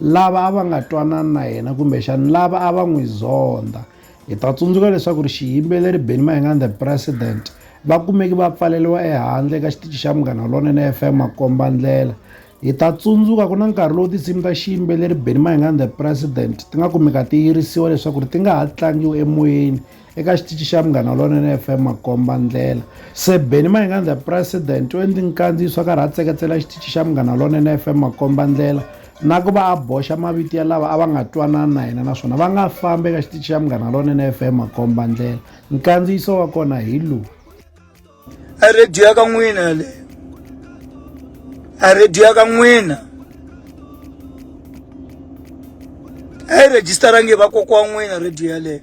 lava a va nga twanani na yena kumbexani lava a va n'wi zondha hi ta tsundzuka leswaku ri xiyimbeleri beni mahinga the president va kumeki va pfaleliwa ehandle eka xitichi xa munghana lonene fm makomba ndlela hi ta tsundzuka ku na nkarhi lowu tinsimu ta xiyimbeleri beni mahinga the president ti nga kumeka ti yirisiwa leswaku ri ti nga ha tlangiwi emoyeni eka xitichi xa Munghana Lonene FM makomba ndlela se Benny Mahinga the president u endli nkandziyiso a karhi a tseketsela xitichi xa Munghana Lonene FM makomba ndlela na ku va a boxa mavito ya lava a va nga twanani na yena naswona va nga fambi eka xitichi xa Munghana Lonene FM makomba ndlela nkandziyiso wa kona hi lowu a radio ya ka n'wina yaleyo a radio ya ka n'wina a yi rejistarangi hi vakokwa wa n'wina radio yaleyo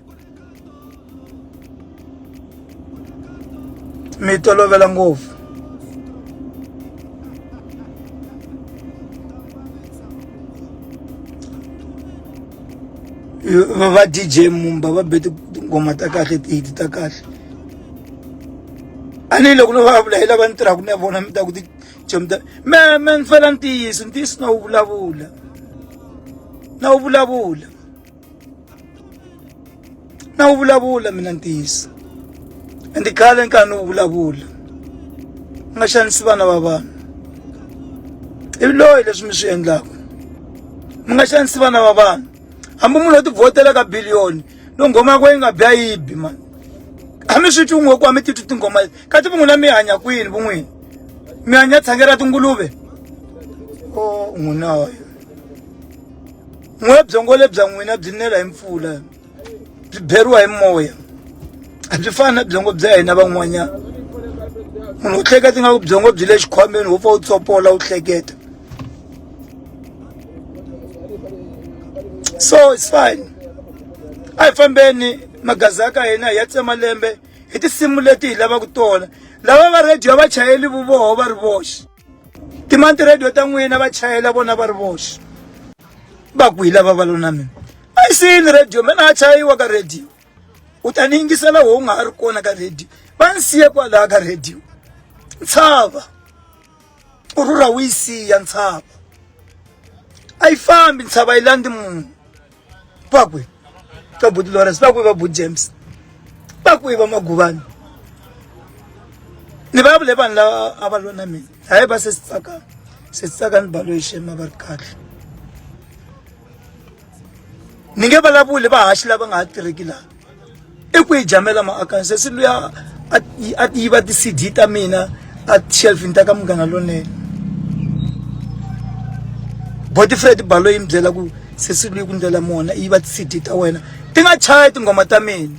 mi tolovela ngopfu va dj mumba va be tinghoma ta kahle tihiti ta kahle a ni loko no vulavula hi lava ni tirhaka na vona mi ta ku tichomi ta me me ni fela ntiyiso ntiyiso na wu vulavula na wu vulavula na wu vulavula mina ntiyiso ende khale ni karhi ni wu vulavula ni nga xanisi vana va vanhu ivi loyi leswi mi swi endlaka mi nga xanisi vana va vanhu hambi munhu o tivhotela ka biliyoni no nghoma yako yi nga bya yibi mani a mi swi twi n'we ku a mi titwi tinghoma ka ti vun'wina mi hanya kwini vun'wini mi hanya tshange ra tinguluve o oh, n'wina wayo n'we byongo lebya n'wina byi nela hi mpfula byi beriwa hi moya a byi fani na byongo bya hina van'wanyana munhu u hleketa ingaku byongo byi le xikhwameni wo pfa u tsopola u hleketa so it's fine a hi fambeni magazi ya ka hina hi ya tsema lembe hi tinsimu leti hi lavaka tona lava va radio va chayeli vuvoho va ri voxe timani ti-radio ta n'wina va chayela vona va ri voxe va ku hi lava va lo na mina a yi siyini radio mina a chayiwa ka radio u ta ni yingisela ho u nga ha ri kona ka radio va ni siye kwalaha ka radio ntshava u rhurha wu yi siya ntshava a yi fambi ntshava yi landzi munhu va kwi va buti lawrence va kwi va but james va kwi va maguvani ni va vule vanhu lava a va lona mina hayi va se si tsaka se si tsaka ni balo yi xema va ri kahle ni nge vulavuli vahaxi lava nga ha tirheki laha i ku yi jamela maakani sesi luya a yiva ti-cd ta mina a shelfini ta ka munghana lonene botifred balo yi mi byela ku sesi luyi ku ndlela mona yi va ti-cd ta wena ti nga chaya tinghoma ta mina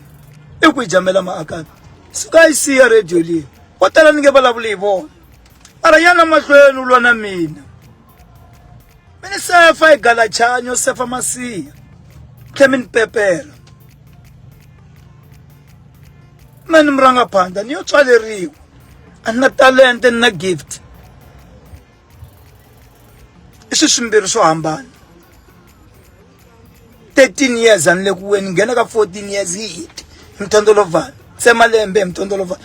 i ku yi jamela maakani suka yi siya radio leyi vo tala ni nge vulavuli hi vona mara yana mahlweni u lwa na mina mi ni sefa hi galachanyo sefa masiya tlhe mi ni pepela me ni murangaphandla ni yo tswaleriwa a ni na talente ni na gift i swi swimbirhi swo hambana 13 years a ni le ku weni nghena ka 14 years hi hit hi mithondolovana se malembe hi mithondolovana